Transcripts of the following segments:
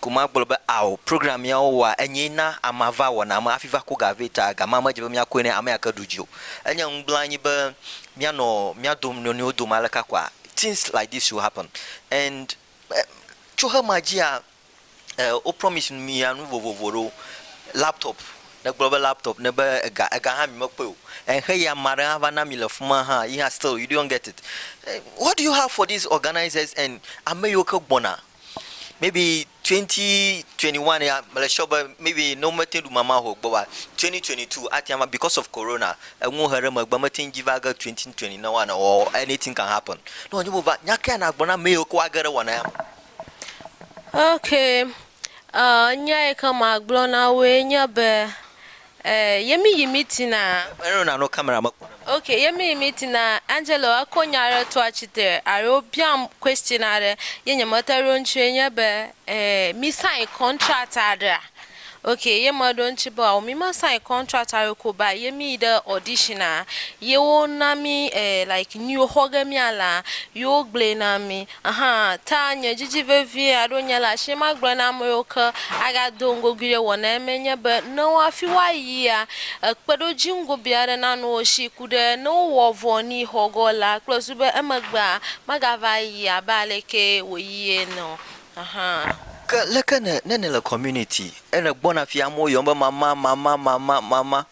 Ko magblɔ be ao, program ya wo wɔa enyee na amea va wɔna me hafi va ko ga vɛ ta gama medze be mia koe ne ame ya ke ɖu dzi o. Enye ŋugblẽ anyi be mia nɔ mia dom nɔnɔewo dome aleka koa? Things like this will happen and tso xe ma dzia wo promise mia nu vovovo ɖewo, laptop, ne gblɔ be laptop ne be ega, ega hã mi me kpɔe o and xe ya ame aɖe hã va na mi le fima hã yi hã still you don't get it what do you have for these organizers and ame yiwo ke gbɔna maybe twenty twenty one ya mele sure be maybe ne womete ŋu ɖu mama o gbɔwoa twenty twenty two ate ŋu because of corona enuwo he ɖe megbe mete ŋu dzi va ge twenty twenty ne woanɔ or anything can happen ne wònye wova nya kae nagblɔ na ame yiwo ke woage ɖe wɔna ya me. Okay uh, nya yi ke magblɔ na woe nye be Eh yemi yi meeting a. Eƒe nɔna no camera me kpɔna. Ok yemi yi meeting a Angelo eko nya aɖe to atsitre alo wobiam question aɖe ye nye me te ɖo eŋuti ye nye be eh mi sign contract aɖea ok ye me ɖo eŋuti be ao mi me sign contract aɖe ko ba ye mi yi ɖe audition a ye wo na mi eh like nuyi wo xɔ ge mia laa ye wo gblɔe na mi. Hã ta nye didi vevie aɖo nye le asi ma gblɔ na ame yiwo ke aga do ŋgogui ɖe wɔ na eme nye be ne wo afi wo ayia ekpe ɖo dzi ŋgo bia aɖe na nu wo si ku ɖe ne wo wɔ vɔ ni xɔ gɔ la kple zu be emegbea mega va yi abe aleke wo yi ene o hã. Ke leke ne ne nele community ene gbɔna fia amewo yɔm be mama mama mama mama.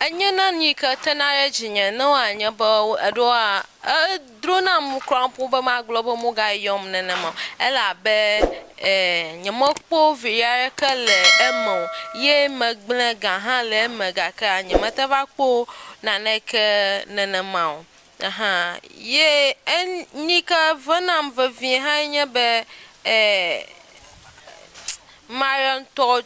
Enye na nu yi ke tena ɖe dzinye ne wòanye be eɖewoa, edro nam ŋu kura ƒo be magblɔ be womegayɔm nenema o elabe nyemekpɔ viɖe aɖeke le eme o ye megblẽ ga hã le eme gakea nyemete va kpɔ naneke nenema o. Aha ye en nu yi ke ve nam vevie hãe nye be mayɔ ŋutɔ.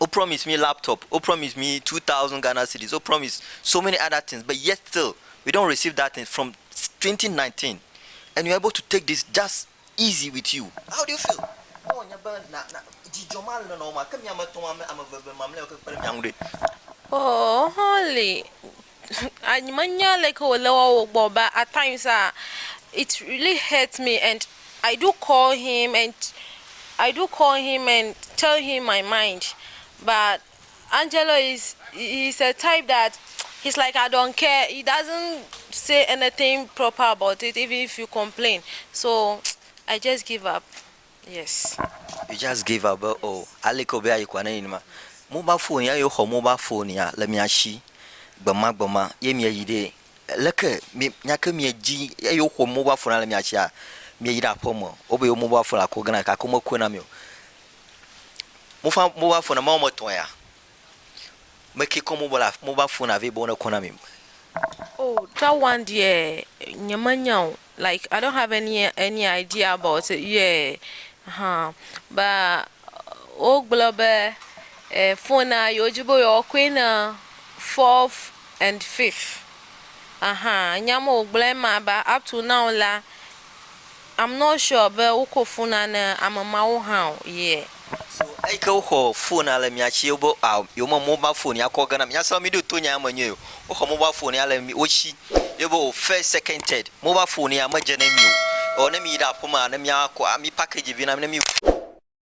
wo promise mí laptop, wo promise mí two thousand Ghana cedis, wo promise so many other things but yet still we don't receive that thing from twenty nineteen and you are able to take this just easy with you how do you feel? Ne wònye be na na dzidzɔ ma le nɔwò ma ke mí ame etɔ̃ ame eve mamlɛawo ke kpe ɖe mía ŋu ɖe? Oo, Holly, Menya leke wòle woa wo gbɔ but at times ah it really hurts me and I do call him and I do call him and tell him my mind but Angelo is he is a type that he is like I don't care he doesn't say anything proper about it even if you complain so I just give up. Yes. You just gave up be oh aleke wòbe ayi kɔa ne enye ma. Mobile phone ya yewxɔ mobile phone ya le mia shi gbemagbema ye mieyi ɖee. Leke mi nyake miedzi eyi woxɔ mobile phone ya le mia shia mieyi ɖe aƒe me wobe yewo mobile phone la kɔ gena gake womekɔe na mi o. Mofa mobile phone ame woame etɔ̃ ya Me ke kɔ mobal af mobal fona vɛ be wo ne kɔ na mi. Oh that one deɛ nye me nya o like I don't have any any idea about it yeah huh but wo gblɔ be fona yi wo dzi be yewo kɔe na fourth and fifth ahan nya me wo gblɔɛ ma ba up to now la. I'm not sure be woko fona ne ame mawo hã o, yeah. So eyike woxɔ fona le mia tsi wobe ah yewo me mobile fone ya kɔ gena mia se be mi ɖo to nya ya me nyuie o. Woxɔ mobile fone ya le mi wotsi ye be oh first, second, third mobile fone ya me dze ne mi o. Or ne mi yi ɖe aƒe mea ne mia kɔ ami package vi na mi ne mi.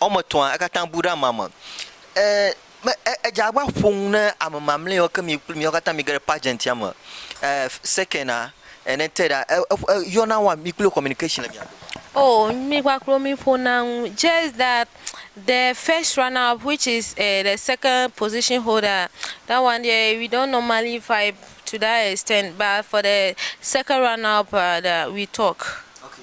Woame etɔ̃a katã bu ɖe amea me. E, me, e, edze abe aƒo nu ne ame mamlɛawo ke mi kple miawo katã mige ɖe pageant ya me. E, second-a, ene third-a, e, e, e, yɔna wa mi kple communication le mia dome. Oh, mi kpakple wo mi ƒona nu. Just that the first runner up which is uh, the second position holder, that one there we don't normally vibe to that extent, but for the second runner up uh, that we talk. Okay.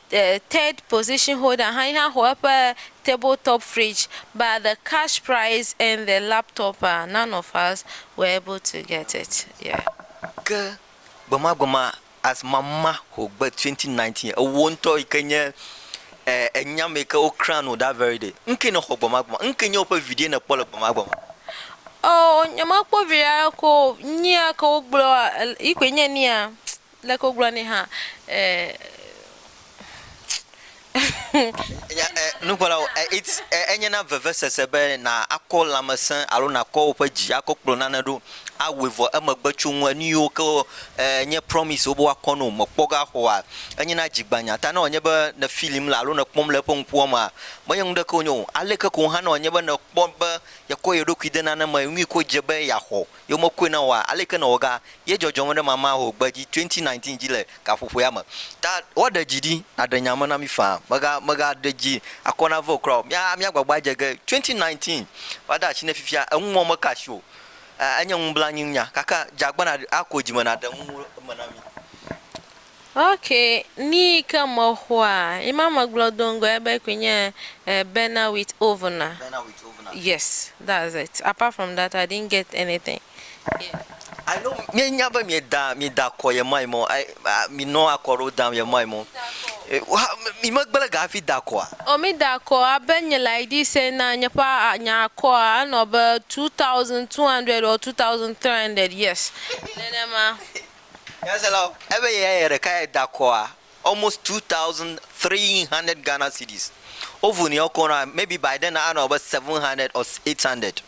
third position holder hã yehã xɔ eƒe table top fridge but the cash prize and the laptop ah none of us were able to get it yeah. Ke gbemagbema as mama xɔ gbe 2019 ewò ŋutɔ yi ke nye enyame yi ke wo crown wò that very day nuke nèxɔ gbemagbema nuke nye woƒe viɖe nèkpɔ le gbemagbema? Oh nyemekpɔ viɖe aɖeke o nyia ke wogblɔ yi koe nye nia Leke wogblɔ nɛ hã eh. Nya e, nukpɔlawo, e, it's, e, enye na vevesese be na akɔ lãmesẽ alo nakɔ woƒe dzi akɔ kplɔ nane ɖo awɔe vɔ emegbe tso ŋu enu yiwo ke e, nye promise wo be woakɔ no mekpɔ ge axɔa. Enye na dzigbanya ta ne wònye be ne filim la alo nekpɔm le eƒe ŋkuwo mea, menye nu ɖeke wònye o. Aleke ko hã ne wònye be nekpɔ be yekɔ ye ɖokui de nane me nyui ko dze be yeaxɔ ye womekɔe na woa, aleke nɔ woga ye dzɔdzɔm ɖe mama ho gbe dzi 2019 dzi le gaƒoƒoea me. Ta woaɖe dzi ɖi naɖe nya me na mí faa. Mèga, mèga ɖe dzi akɔ nave o kura o. Mía, mía gbagba adze ge 2019 va de asi ne fifia eŋu mɔ meka asi o. Enye nublanuinya, gake dze agbana ako dzi me naɖe ŋu eme na mí. Ok nii ke mexɔa yima megblɔ do ŋgɔ ebe koe nye burner with oven a yes that's it apart from that I didn't get anything yeah. I know mie nya be mie da mie da kɔ ye mai mɔ I mi nɔ akɔ ɖewo dam ye mai mɔ mi me gble ga hafi da kɔa. O mi da kɔ abe nye like this ena nye ƒe nya kɔa enɔ be 2200 or 2300 yes nenema. Nyaselawo, ebe yeya ye ɖeka ye da akɔa almost 2300 Ghana cedis. Wovu ni ɔkɔ na maybe by then anɔ abe 700 or 800.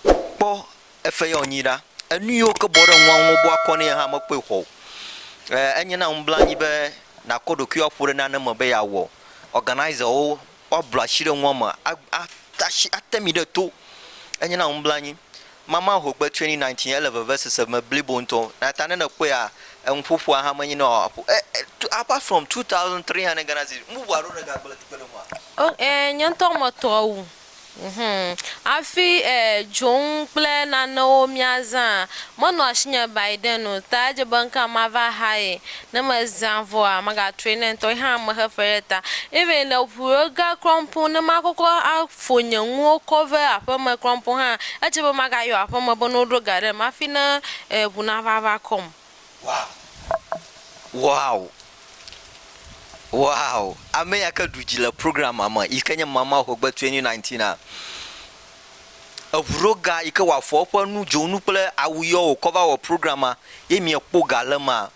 Kpɔ efe yɔ nyi ɖa. Enu yiwo ke bɔ ɖe ŋua ŋu wobu akɔ nɛ hã mekpɔe xɔ o. E enye na ŋublanyi be nakɔ ɖokuiwò aƒo ɖe nane me be yeawɔ. Organiserwo woablɔ asi ɖe nua me ate mi ɖe to. Enye na nublanui. Mama hogbe 2019 ele vevesese me blibo ŋutɔ eya ta ne nèkpɔea enuƒoƒoa hã menye ne wòaƒo e e apart from 2300 Ghana cedis nu bubu aɖewo nègagblɔ le kpekpeɖeŋua? O ɛɛ, nye ŋutɔ metɔ wu. Hum. Hafi e dzonu kple nanewo míazã menɔ asinye Biden o, ta edze be ŋkea mava haye. Ne mezã vɔa, megatrɔe ne ŋutɔ ye hã mexe fe ɖe ta. Even le ŋu ɖe ga klɔmpo ne makɔkɔ afo nye nuwo kɔ ve aƒeme klɔmpo hã, edze be magayɔ aƒeme be ne woɖo ga ɖem hafi ne e ŋu nava va kɔm. Wow! Wow! Wow! Ame ya ke ɖu dzi le programmea me yi ke nye Mama Hogbe 2019a, eŋu ɖo ga yi ke wòafɔ eƒe nu, dzonu kple awu yɔ wòkɔ va wɔ programmea ye miekpɔ ga le emea,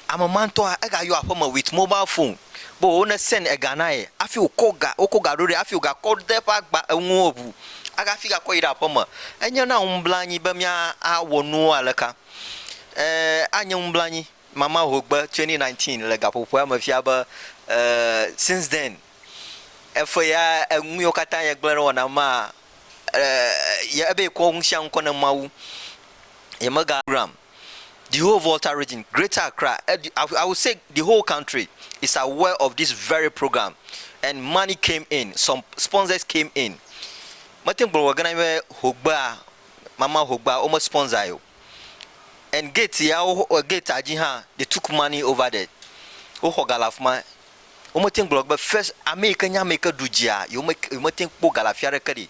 ame ma ŋutɔa, egayɔ aƒeme with mobile phone be wo ne send ega na ye hafi wòkɔ ga, wokɔ ga ɖo ɖɛ hafi wògakɔ de eƒe agba, enuwo ŋu hafi gakɔ yi ɖe aƒeme. Enye na ŋublanui be míawɔ nuwo aleka? Ee, anye nublanui. Mama Hogbe, 2019, le Gaƒoƒoa me fia be, Ee, since then, efe ya enuyiwo katã ye gblẽ ɖe wɔna maa, ee, ye ebe yekɔ ŋusiaŋu kɔ ne Mawu. Yemega. Program, The whole Volta region, Greater Accra, edi, I, I would say the whole country is aware of this very program and money came in, some sponsors came in. Mete ŋu gblɔ gɔ̃ gena be Hogbea. mama hogba wome sponsor o and gate ya gate ya dzi hã they took money over there woxɔ ga le afima wome teŋ gblɔ be first ameyike nye ameyike ɖu dzia yewome teŋ kpɔ ga le afia ɖeke ɖi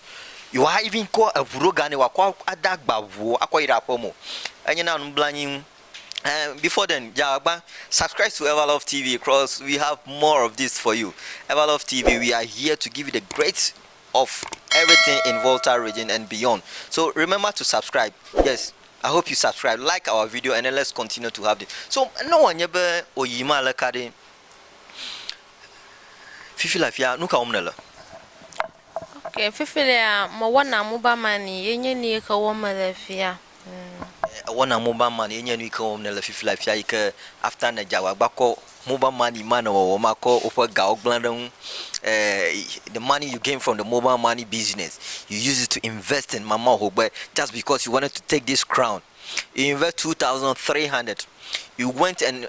yewa even kɔ eʋu ɖo ga nɛ wɔkɔ ade agba ʋuo akɔ yi ɖe aƒeme o enye na nublanyi ŋu and before then dzawagba subscribe to ever love tv cos we have more of this for you ever love tv we are here to give you the great of everything in Volta region and beyond so remember to subscribe yes I hope you subscribe like our video and then let's continue to have this so ne wòanye be oyi ma le ka ɖe fifi la fia nu ka wɔm nele ok fifi lea mewɔna mobile money ye nye ni yike wɔm mele fia Ewɔna mobile money ye nye nuyike wɔm nèle fifia fia yike after nèdze agbagba kɔ mobile money ma nèwɔwɔ ma kɔ woƒe gawo gblẽ ɖe ŋu the money you gain from the mobile money business you use it to invest in mama ohogbe just because you wanted to take this crown you invest two thousand three hundred you went and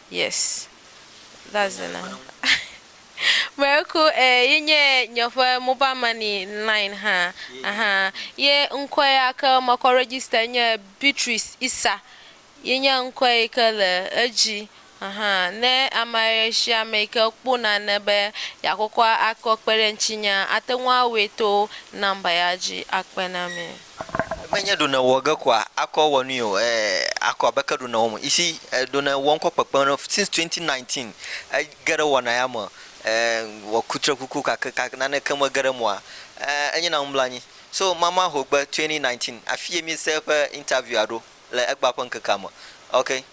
Yes that's the number Miracle eh ye nye nye ƒe mobile money line hã ahan ye ŋkɔe ya ke mekɔ register nye Beatrice Isa ye nye ŋkɔe yi ke le edzi ahan ne amesiame yi ke kpɔ nane be yeakɔkɔ akɔ kpe ɖe ŋutinyea ate ŋu awɔe to number ya dzi akpe na mí. Menye ɖo nèwɔ ge koa akɔ wɔ nui o ɛɛ akɔ abe ke ɖo nèwɔm. You see eh, ɖo nèwɔ ŋkɔ kpekpe ne since 2019 ege ɖe wɔna ya me eh, wɔ kutre kuku kake ka naneke mege ɖe emɔa eh, enye na nublanyi. So mama hogbe 2019 afi ye mi se eƒe interview a ɖo le egba ƒe ŋkekea me. Okay.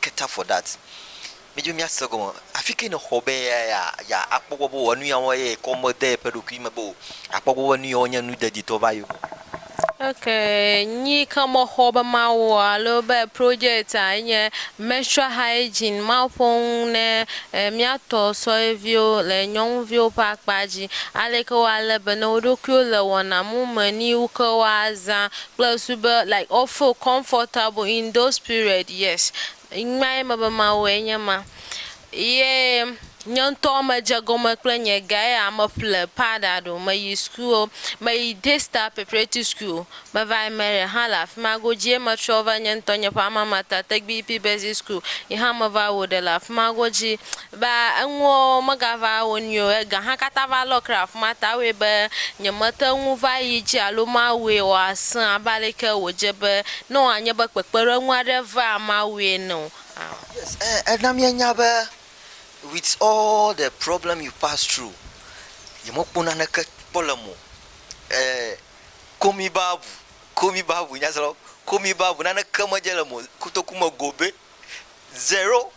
cater for that mi dzo mia se gɔme afike ne xɔ be ya ya ya akpɔ gbɔ be wɔ nuya wɔ ye kɔ me de eƒe ɖokui me be o akpɔ gbɔ be nuya wɔ nye nu dadi tɔ va yo. Ok nyi ke me xɔ be ma wɔ alo be project a enye menstrual hygiene ma ƒo ŋu ne mia tɔ sɔe viwo le nyɔnu viwo ƒe akpa dzi aleke wa le be ne woɖokuiwo le wɔna mu me ni wu ke wa za kple su be like wo feel comfortable in those period yes ŋma ye mebe mawu enye ma ye nye ŋtɔ me dze gɔme kple nye ga ye ya me ƒle powder ɖo me yi school wo me yi day star preparatory school me va yi marry hã le afima go dzi ye me trɔ va nye ŋtɔ nye ƒe alma mater tegbi yi pi basic school yi hã me va wɔ ɖe le afima go dzi Be enuwo megava wo nyuie o. Ega hã katã va lɔ kra afi ma ta wɔe be nyemete ŋu va yi edzi alo mawɔe wòasẽ abe aleke wòdze be ne wòanye be kpekpeɖeŋu aɖe vaa Mawu ene o. Aa. Yes, ẽ, ena míenya be with all the problem you pass through, yemekpɔ naneke kpɔ le eme o. Ẽ, ko mí Bible, ko mí Bible nyasrɔ̃lawo, ko mí Bible, naneke medze le eme o. Kotoku me gobe. Zero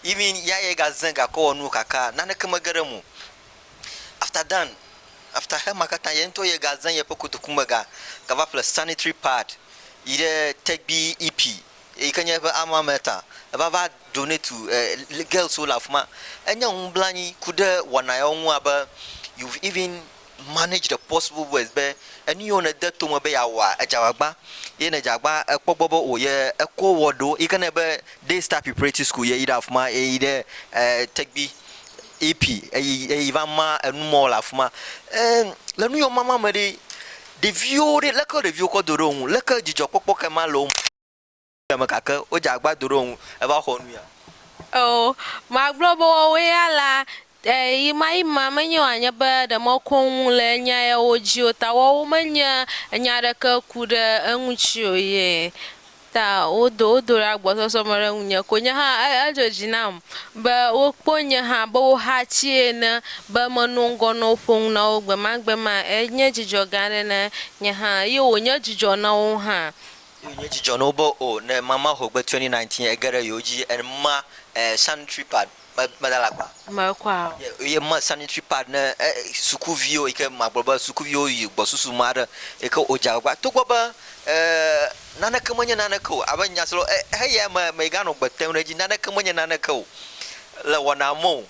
even ya ye ga ze gakɔ wɔ nuwo kaka naneke me ge ɖe eme o. After Dan, after Xema katã ye ŋutɔ ye ga ze yeƒe kotoku me ga gava ƒle sanitary pad yi ɖe tegbi EP yike nye eƒe alma mater eva va donate girls wo le afima. Enye ŋu blanyi ku ɖe wɔna yawo ŋu abe you've even manage the possible words be enu yiwo nède to me be yeawɔa, edza agbagba. Ye ne edza agbagba, èkpɔ egbɔ be o ye ekɔ wɔ ɖo. Yi ke ne be Day Star Preparatory School ye yi ɖe afi ma, ye yi ɖe Tegbi EP eyi eyi va ma enu mɔ le afi ma. Ee, le nu yiwo mama me ɖe, ɖeviwo ɖe, leke ɖeviwo kɔ do ɖe wo ŋu? Leke dzidzɔkpɔkpɔ kae ma le wo me? Ame gake wodze agbado ɖe wo ŋu eva xɔ nu ya. Eo, magblɔ be woawoe ya la, e, yimayima menye wòanye be ɖe mekɔŋ le nya yawo dzi o, ta woawo menye nya aɖeke ku ɖe eŋuti o ye ta wodo wo do ɖe agbɔsɔsɔ me ɖe ŋunye ko. Nye hã e, edzo dzi nam be wokpɔ nye hã be woxatsii ene be menɔ ŋgɔ nɔ wo ƒo nu na wo gbemagbema. Enye dzidzɔ gã aɖe na nye hã, eye wònye dzidzɔ na wo hã. Eye nye dzi dzɔ na wo be, O, ne mama ho gbe 2019 ege ɖe yewo dzi eye ma sanitary pad me meda le agba. Me kɔ a? Eye ma sanitary pad ne sukuviwo yi ke magblɔ be sukuviwo yi gbɔsusu me aɖe yi ke wodze agbagba togbɔ be e naneke menye naneke o abe nya si lɔ e heya me meganɔ gbe tem ɖe edzi naneke menye naneke o le wɔna me o.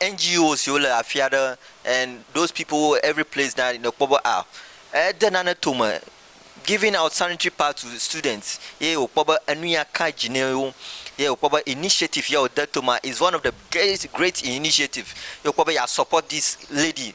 NGO siwo le afi aɖe and those people who were every place na nèkpɔ be a ede nane tome giving out sanitary pad to students ye wòkpɔ be enu ya ka dzi ne wo ye wòkpɔ be initiative ya wòde tomea is one of the great great initiative ye wòkpɔ be yeasupport this lady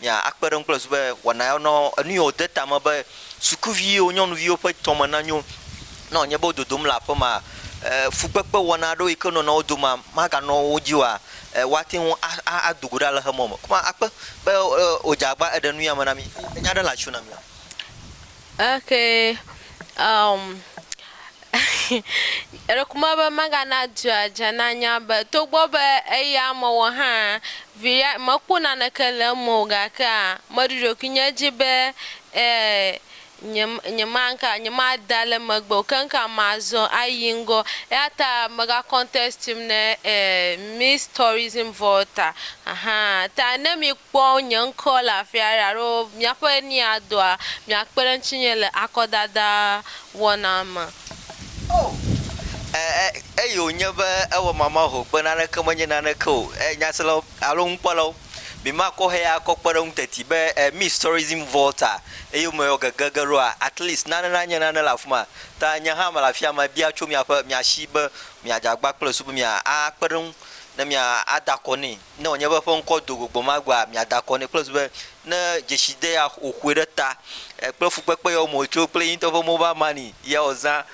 mia akpe ɖe eŋu kple zu be wɔna ya nɔ enu yio de ta me be sukuvi yio nyɔnuviwo ƒe tɔme na nyo. Ne wònye be wo dodom le aƒe ma, e, fukpekpe wɔna aɖewo yi ke nɔna wo domea maga nɔ wo dzi oa, e, woate ŋu a, a, a do go ɖe aleke mɔ me. Kuma akpe be, e, wòdze agba eɖe nu ya me na mi. Enya ɖe le atsyɔ na mia? Okay um Eɖekuma be megana dua dze nanya be togbɔ be eya mewɔ hã vi ya mekpɔ naneke le eme o gakea meɖo ɖokuinye dzi be e nye nyemanka nyemada le megbe o keŋka mazɔ ayi ŋgɔ eyata mega contest ne e Miss Tourism Volta ahan ta ne mi kpɔ nye ŋkɔ le afi aɖe alo míaƒe nuya doa, miakpe ɖe ŋutinye le akɔdada wɔna me. O, e, e, eye wònye be ewɔ mamahoo be naneke menye naneke o. E, nyaselawo alo nukpɔlawo, mimakɔ heya akɔ kpe ɖe ŋuteti be e, Miss Tourism Volta eyome yɔ gege ge ɖoa, at least nane nanye nane le afi ma. Ta nye hã mele afia mebia tso miaƒe, mia si be miadze agbagba kple Yesu be mia, akpe ɖe eŋu ne mia, ada akɔ nɛ. ne wònye be eƒe ŋkɔ do go gbemagbeaa, miada akɔ nɛ kple zu be, ne dzesi de ya wòƒoe ɖe ta kple fukpekpe ye wòme wòtso kple ye ŋutɔ ƒe mobile money ye wòzã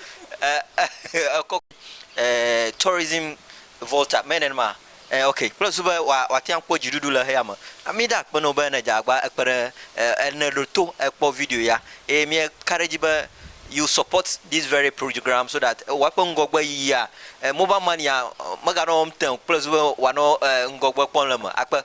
ekɔ tourism volta menye nenema ok kple zu be wòate ŋu akpɔ dziɖuɖu le xeya me. Mída akpe na wò be ne dze agbagba ekpe ɖe ne ɖo to ekpɔ video ya Eye míeka ɖe edzi be you support this very program so that ewa eƒe ŋgɔgbe yiyia eh, mobile money a meganɔ wɔm te ŋu kple zu be wòanɔ eh, ŋgɔgbe kpɔm le eme. Akpe.